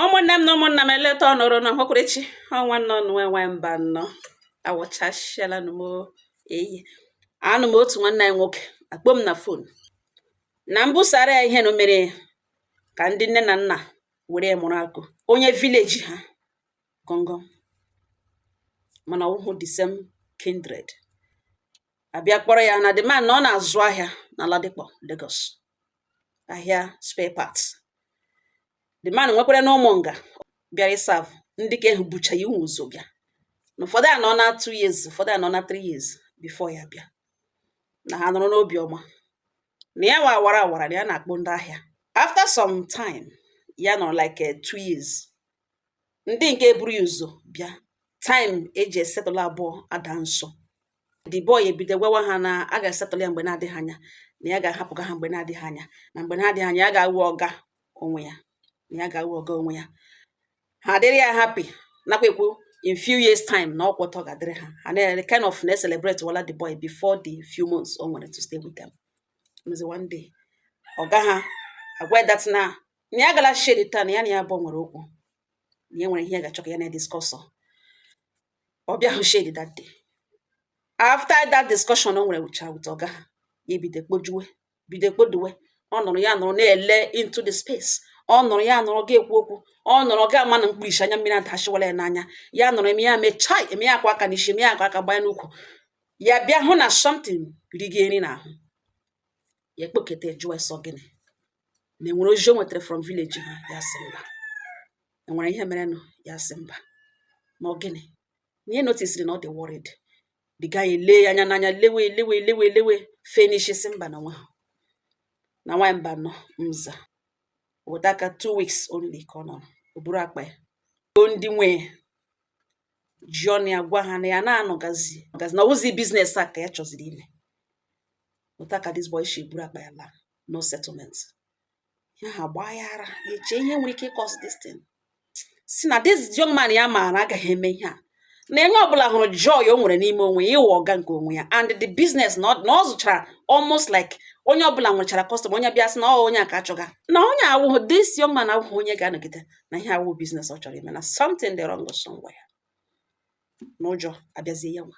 ụmụnne m na ụmụnna m eleta ọnụrụ na ọhụkwụrịchi ọ nwanna unu nwa Mbanọ awụchasịala m eyi anụ m otu nwanne anyị nwoke akpọ m na phone na m busara ya ihe na mere ka ndị nne na nna were mụrụ akọ onye village ha gọngọ mana ọ wụhụ the same kindred abịa kpọrọ ya na the man na ọ na-azụ ahịa na Ladipo Lagos ahịa spare parts the man nwekwara na ụmụnga bịara ịserve ndị nke ahụ bucha ya ụmụ ụzọ bịa na ụfọdụ anọna two years ụfọdụ anọna three years before ya bịa na ha nọrọ n'obi ọma na ya wa awara awara na ya na-akpọ ndị ahịa after some time ya nọrọ like eh, two years ndị nke buru ya ụzọ bịa time eji esettle abụọ ada nso the boy ebido gwawa ha na a ga-esettle ya mgbe na-adịghị anya na ya ga-ahapụga ha mgbe na-adịghị anya na mgbe na-adịghị anya ya ga-awụ ọga onwe ya na ya ga-awụ ọga onwe ya ha adịrị ya happy nakwa ekwu in few years time na ọ kwa otu ọ ga-adịrị ha ha na kind of na-celebratewala the boy before the few months o nwere to stay with them m sị one day ọga ha agwa that na na ya gala shed taa na ya na ya bụ nwere okwu na ya nwere ihe ya ga-achọ ka ya na ya discuss ọ bịahụ shed that day after that discussion o nwerecha with ọga ha ya ebido kpojuwe bido kpoduwe ọ nọrọ ya nọrọ na-ele into the space ọ nọrọ ya nọrọ ga ekwu okwu ọ nọrọ ga ama na mkpirisi anya mmiri adashịwala ya n'anya ya nọrọ eme ya mechaa eme ya akwa aka n'isi eme ya akwa aka gbanye n'ukwu ya bịa hụ na something riga nri n'ahụ ya ekpoketa jụọ sị ọ gịnị ma enwere ozi o nwetara from village ha ya sị mba enwere ihe merenụ ya sị mba ma ọ gịnị na ya noticeri na ọ dị worried the guy ele ya anya n'anya lewe lewe lewe lewe finish sị mba na nwa na nwa Mbanọ m sị weta aka two weeks only ka ọ nọrọ o buru akpa ya o ndị nwe ji ọnụ ya gwa ha na ya na-anọgazi gazi na ọ wụzị business a ka ya chọziri ime weta aka this boy shi buru akpa ya laa no settlement ihe a gbaa ya ara eche ihe nwere ike ịcause this thing si na this young man ya maara agaghị eme ihe a na onye ọbụla hụrụ joy o nwere n'ime onwe ya ịwụ ọga nke onwe ya and the business na ọ zụchara almost like onye ọbụla nwechara customer onye bịa sị na ọ onye a ka achọga na onye awụghụ this young man awụghị onye ga-anọgide na ihe awụ business ọ chọrọ ime na something dị wrong somewhere n'ụjọ abịazie ya nwa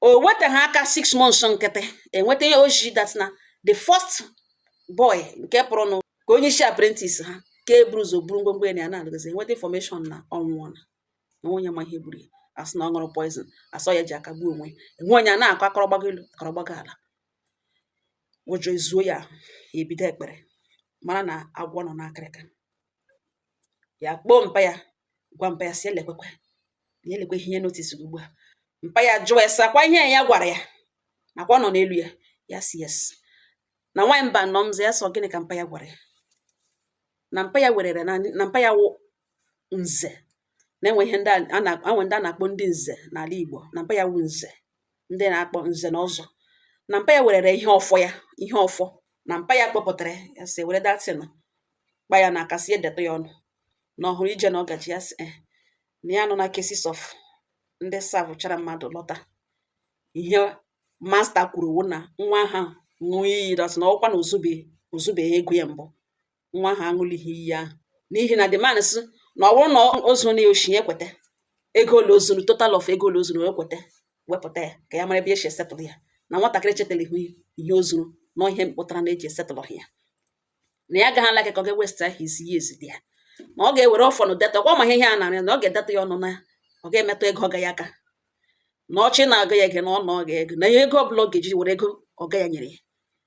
o wetaghị aka six months nkịtị enweta ozi that na the first boy nke pụrụnụ ka onye isi apprentice ha nke buru ụzọ buru ngwongwo ya na ya na-alụgazi enweta information na ọ nwụọna enwe onye ma ihe gburu ya asị na ọ ṅụrụ poison asị ọ ya ji aka gbuo onwe ya enwe onye a na-akọ akọrọ gbago elu akọrọ gbago ala ụjọ ezuo ya ya ebido ekpere mara na agwọ nọ n'akịrịka ya kpọọ mpa ya gwa mpa ya sị ya lekwekwe ya lekwe ihe notis gị ugbu a mpa ya jụọ ya sị ọkwa ihe ya gwara ya na ọkwa ọ nọ n'elu ya ya sị yes na nwaanyị Mbano mzọ ya so gịnị ka mpa ya gwara ya na mpa ya werere na na mpa ya wụ nze na-enwe ihe ndị a na-enwe ndị a na-akpọ ndị nze n'ala Igbo na mpa ya wụ nze ndị na-akpọ nze na ọzọ na mpa ya werere ihe ọfọ ya ihe ọfọ na mpa ya kpọpụtara ya sị were that thing kpa ya n'aka sị ya detụ ya ọnụ na ọ hụrụ ije na ọgaji ya sị eh, na ya anụọna cases of ndị savụchara mmadụ lọta ihe master kwuru wụ na nwa ha ṅụọ iyi that na ọ wụkwa na o zube o zubeghị ego ya mbụ nwa ha aṅụlighị iyi ahụ n'ihi na the man sị na ọ bụrụ na o zuru oshi ya kweta ego ole o zuru total of ego ole o zuru ya kweta wepụta ya ka ya mara ebe e si esetụlụ ya na nwatakịrị chetara ihu ihe o zuru na ihe mpụtara na e ji esetụlụ ya na ya agaghị ala aka ka ọ ga-ewesta his years dị ya na ọ ga-ewere ọfọ nụ detụ ọkwa ma ihe a narị na ọ ga-edetụ ya ọnụ na ọ ga-emetụ ego ọga ya aka na ọchị na-aga ya ege na ọ na ọga ego na ihe ego ọbụla ọ ga-eji were ego ọga ya nyere ya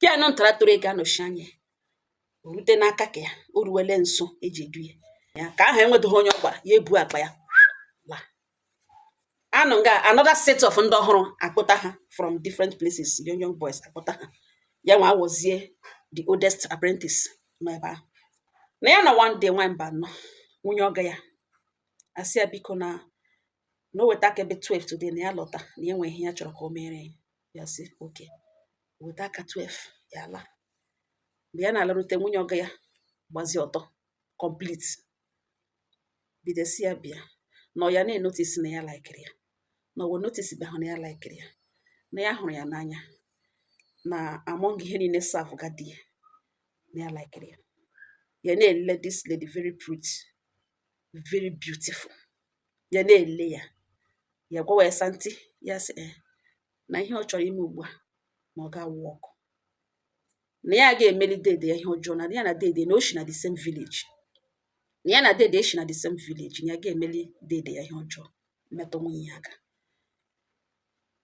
ka ya nọ ntara toro ego anọchi anya ya o rute n'aka ka ya o ruwele nso e ji edu ya ya ka ahụ enwedoghị onye ọ gwara ya ebu akpa ya la anụ nga another set of ndị ọhụrụ akpụta ha from different places young young boys akpụta ha ya nwa awụzie the oldest apprentice nọ ebe ahụ na ya na one day nwaanyị Mbano nwunye ọga ya asị ya biko na na o weta aka ebe 12 today na ya lọta na ya nwe ihe ya chọrọ ka o mere ya ya sị okay weta aka 12 ya ala mgbe ya na-alarute nwunye ọga ya gbazie ọtọ complete bido sị ya bịa na ọ ya na-enotisi na ya laikiri ya na ọ wụ o notisibehụ na ya laikiri ya na ya hụrụ ya n'anya na among ihe niile savụga di ya na ya laikiri ya ya na-ele this lady very pretty very beautiful ya na-ele ya ya gwawa ya sị aunty ya sị eh, na ihe ọ chọrọ ime ugbu a na ọ ga-awụ ọkụ na ya ga-emeli dede ya ihe ọjọọ na ya na dede na o shi na the same village na ya na dede shi na the same village na ya ga-emeli dede ya ihe ọjọọ metụ nwunye ya aka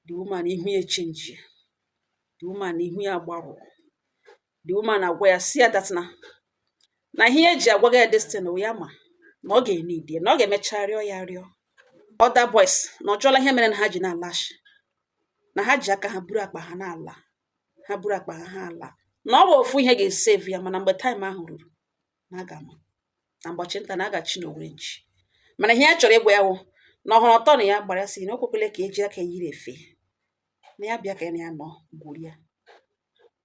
the woman ihu ya echenjie the woman ihu ya agbarụọ the woman agwa ya sị ya that na na ihe e ji agwaga ya this thing ya ma na ọ ga-enidi ya na ọ ga-emecha rịọ ya rịọ other boys na ọ chọọla ihe mere na ha ji na-alashi na ha ji aka ha buru akpa ha na-ala ha buru akpa ha ha ala na ọ bụ ofu ihe ga-esevu ya mana mgbe time ahụ ruru na a ga-ama na mbọchị nta na a ga-achụ n'owere nchi mana ihe ya chọrọ ịgwa ya wụ na ọ hụrụ ọtọ na ya gbara ya sị na o kwekwele ka ya ji aka yiri efe na ya bịa ka ya na ya nọ gwurie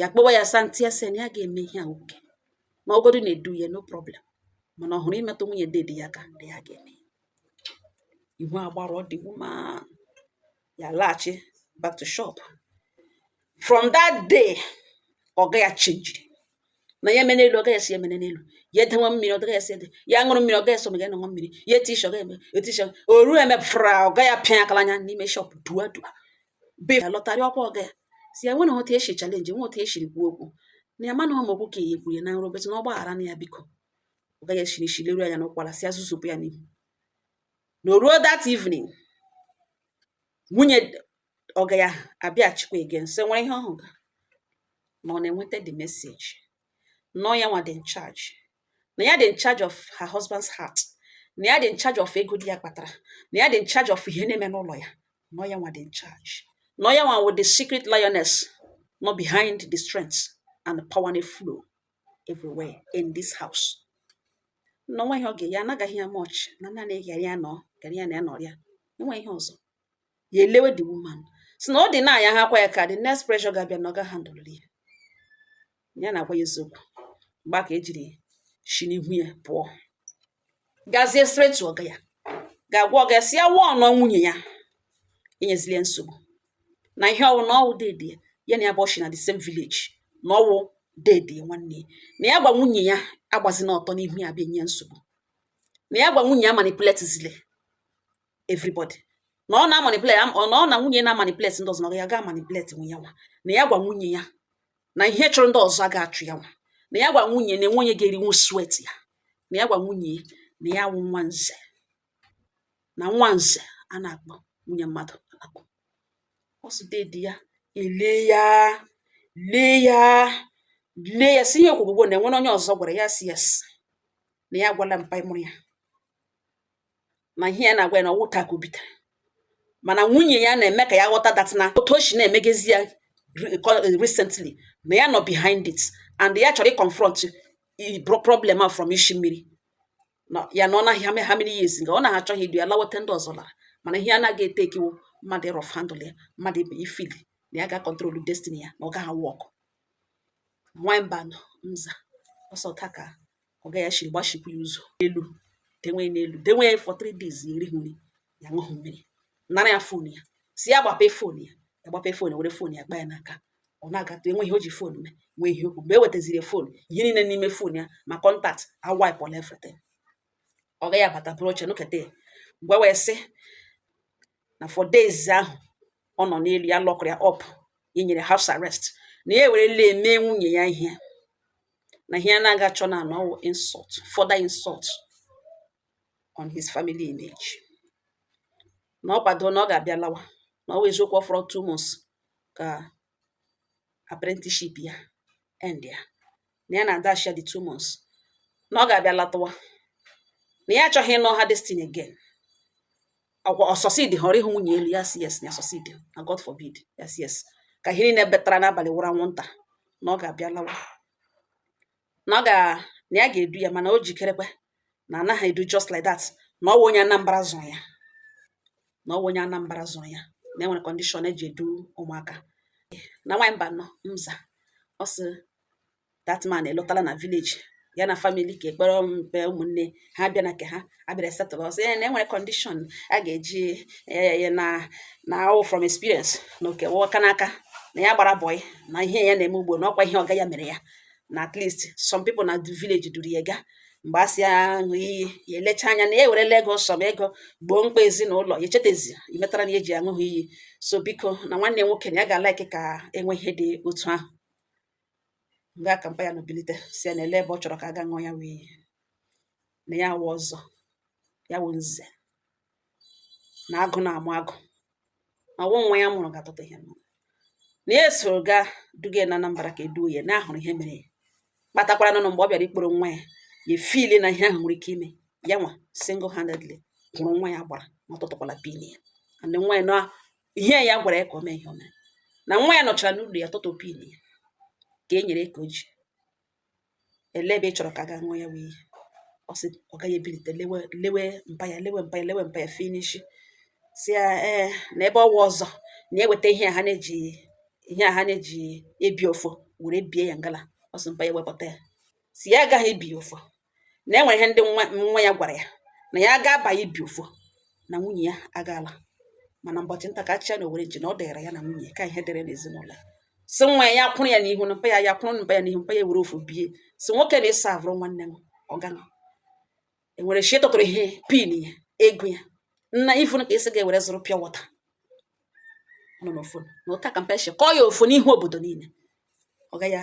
ya kpọwa ya santi ya sị na ya ga-eme ihe a nwoke na ọgọdụ na-edu ya no problem mana ọ wụrụ imetụ nwunye dede ya aka dị ya ga-eme ihu agbarụọ the woman ya laghachi back to shop from that day ọga ya chenjiri na ya emena elu ọga ya sị emene n'elu ya edewa mmiri ọga ya sị ede ya ṅụrụ mmiri ọga ya so ma ya ṅụọ mmiri ya eti isi ọga ya eme eti isi o ruo eme fra ọga ya apịa akala anya n'ime shop dua dua be ya lọtarị ọkwa ọga ya sị ya nwere otu esi chalenji nwe otu esiri kwuo okwu na ya mana ọma okwu ka ya ekwuye na nrụbet na ọ gbaghara na ya biko ọga ya esi n'isi leru anya n'ụkwara sị ya zuzupụ ya n'ihu na o ruo that evening nwunye ọga ya abịaghachikwa again so nwere ihe ọ hụrụ na ọ na-enweta the message na ọ ya nwa dị in charge na ya dị in charge of her husband's heart na ya dị in charge of ego di ya kpatara na ya dị in charge of ihe na-eme n'ụlọ ya na ọ ya nwa dị in charge na ọ ya nwa wụ the secret lioness nọ behind the strength and the power na flow everywhere in this house na o nwe ihe ọga ya anagaghị ya much na naanị gara ya nọ gara ya na ya nọrịa enweghị ihe ọzọ ya elewe the woman sị na ọ dị na ya hakwa ya aka the next pressure ga-abịa na ọ ga handle ya ya na-agwa ya eziokwu mgbe a ka o jiri shi n'ihu ya pụọ gazie straight to ọga ya gaa gwa ọga ya sị ya wụọ na nwunye ya enyezili ya nsogbu na ihe ọ wụ na ọ wụ dede ya na ha abụọ shi na the same village na ọ wụ dede nwanne na ya gwa nwunye ya agbazina ọtọ n'ihu ya bịa nye nsogbu na ya gwa nwunye ya amanipulate zile everybody na ọ na-amanipulate na ọ na nwunye na-amanipulate ndị ọzọ na ya ga-amanipulate nwu ya nwa na ya gwa nwunye ya na ihe chụrụ ndị ọzọ ga-achụ ya nwa na ya gwa nwunye na enwe onye ga-erinwu sweat ya na ya gwa nwunye na ya wụ nwa nze na nwa nze a na-akpọ nwunye mmadụ akpọ ọ sị dede ya elee ya lee ya lee ya sị ihe o kwugwo na e nwere onye ọzọ gwara ya sị yes na ya gwala mpa mụrụ ya na ihe ya na-agwa ya na ọ wụ taa ka o bitere mana nwunye ya na-eme ka ya ghọta that na otu o si na-emegezi ya recently na ya nọ behind it and ya chọrọ ịconfront problem a from isi mmiri ya na ọ nọ how many years nga ọ na-achọzi idu ya lawa etu ndị ọzọ lara mana ihe anaghị etake wụ mmadụ ịrough handle ya mmadụ ibe ịfeel na ya ga-control destiny ya na ọ gaghị work nwanyị mba nza ọsọ taka ọga ya shiri gbachikwu ya ụzọ elu denwe ya n'elu denwe ya for three days ya erighị nri ya aṅụghị mmiri nara ya fon ya si ya gbape fon ya ya gbape fon ya were fon ya kpa ya n'aka ọ na-agatụ enwe ihe o ji fon mee nwee ihe okwu mgbe e wetaziri fon ihe niile n'ime fon ya ma contact awaipụla everything ọga ya abata buru oche nọketa ya mgbe wee sị na for days ahụ ọ nọ n'elu ya lọkụrụ ya up e nyere house arrest na ya ewerela eme nwunye ya ihe na ihe a na-agachanụ na ọ wụ insult further insult on his family image na ọ kwado na ọ ga-abịa lawa na ọ wụ eziokwu ọ fọrọ two months ka apprenticeship ya end ya na ya na-adash ya the two months na ọ ga-abịa latawa na ya achọghị ịnụ aha Destiny again ọkwa ọ succeed họrọ ịhụ nwunye elu ya si yes na ọ succeed na God forbid ya si yes ka ihe niile betara n'abalị wụrụ anwụnta na ọ ga-abịa lawa na ọ ga na ya ga-edu ya mana o jikerekwa na anaghị edu just like that na ọ wụ onye Anambra zụrụ ya na ọ wụ onye Anambra zụrụ ya na enwere condition eji edu ụmụaka na nwaanyị mba nọ mza ọ sị that man elọtala na village ya na family ka ọ kpọrọ mpa ya ụmụnne ha bịa na nke ha abịara settle ọ sị ya na enwere condition a ga-eji ya na na ọ wụ from experience na oke wụọka n'aka na ya gbara boy na ihe ya na-eme ugbo na ọkwa ihe ọga ya mere ya na at least some people na village duru ya gaa mgbe a sị ya ṅụ iyi ya elecha anya na ya ewerela ego some ego gboo mkpa ezinụlọ ya echetezi imetara na ya eji aṅụghị iyi so biko na nwanne nwoke na ya ga-alaiki ka enwe ihe dị otu ahụ mgbe a ka mpa ya nọ bilite si ya na ele ebe ọ chọrọ ka a ga ṅụọ ya wụ iyi na ya wụ ọzọ ya wụ nze na agụ na-amụ agụ na ọ wụ nwa ya mụrụ ga-atụta ihe mụrụ na ya esoro gaa duga ya na Anambra ka eduo ya na ahụrụ ihe mere ya kpatakwara na mgbe ọ bịara ịkpọrọ nwa ya ya efili na ihe ahụ nwere ike ime ya nwa single handedly kwụrụ nwa ya gbara ma ọ tụtụkwala pin ya and nwa ya na ihe ya gwara ya ka o mee ihe o mere na nwa ya nọchara n'ụlọ ya tụtụ pin ya ka e nyere ka o ji ele ebe ị chọrọ ka a gaa ṅụọ ya wụ iyi ọ sị ọga ya ebilite lewe lewe mpa ya lewe mpa ya lewe mpa ya finish si ya ee na ebe ọ wụ ọzọ na eweta ihe a ha na-eji ihe a ha na-eji ebi ọfọ were bie ya ngala ọ sị mpa ya wepụta ya si ya agaghị ebi ya ọfọ na e nwere ihe ndị nwa nwa ya gwara ya na ya gaba ibi ọfọ na nwunye ya agaala mana mbọchị nta ka a chụcha n'owere nchi na ọ dịrị ya na nwunye ka ihe dịrị n'ezinụlọ ya si nwa ya ya kwụrụ ya n'ihu na mpa ya ya kwụrụ mpa ya n'ihu mpa ya were ọfọ bie si nwoke na ịsa avụrụ nwanne m ọgana enwere shi tụtụrụ ihe pin ya ego ya na even ka isi ga-ewere zụrụ pure water nọ n'ofon na ụta ka mpa shi kụọ ya ọfọ n'ihu obodo niile ọga ya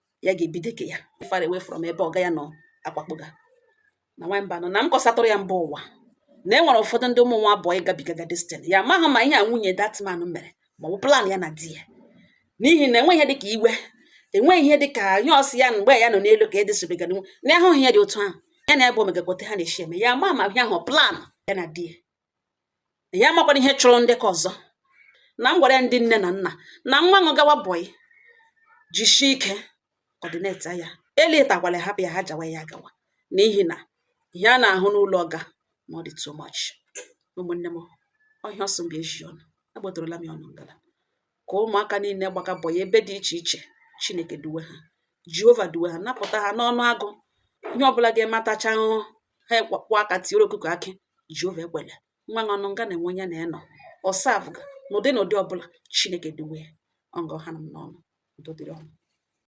ya ga-ebido ke ya far away from ebe ọga ya nọ akwakpoga na nwamba nọ na m kọsatụrụ ya mba ụwa na e nwere ụfọdụ ndị ụmụ nwa bọyị gabigaga this thing ya amaghị ma ihe a nwunye that man mere ma ọ bụ plan ya na di ya n'ihi na enweghị ihe dịka iwe enweghị ihe dịka ihe ọ sị ya mgbe ya nọ n'elu ka edesibegara nwe na ahụghị ya dị otu ahụ ya na ebe o megagote ha na-eshi eme ya ama ma ihe ahụ plan ya na di ya ya amakwara ihe chụrụ ndị ke ọzọ na m gwara ya ndị nne na nna na nwa ụnụ gawa bọyị jishi ike ọdịneta ya eletakwala hapụ ya ha jawa ya gawa n'ihi na ihe a na-ahụ n'ụlọ ọga na ọ dị too much ụmụnne m ọhịa ọsọ mgbe eji ọnụ agbatorola m ya ọnụ ngala ka ụmụaka niile gbaga bọyị ebe dị iche iche chineke duwe ha jehova duwe ha napụta ha n'ọnụ agụ ihe ọbụla ga-eme atachaa ahụhụ ha agbakwa aka tiere ọkụkọ akị jehova ekwela nwa ụnụ nga na-enwe onye na-enọ ọ serve-ga n'ụdị n'ụdị ọbụla chineke duwe ha ọ nga ọ hanụ m n'ọnụ udo dịrị ụnụ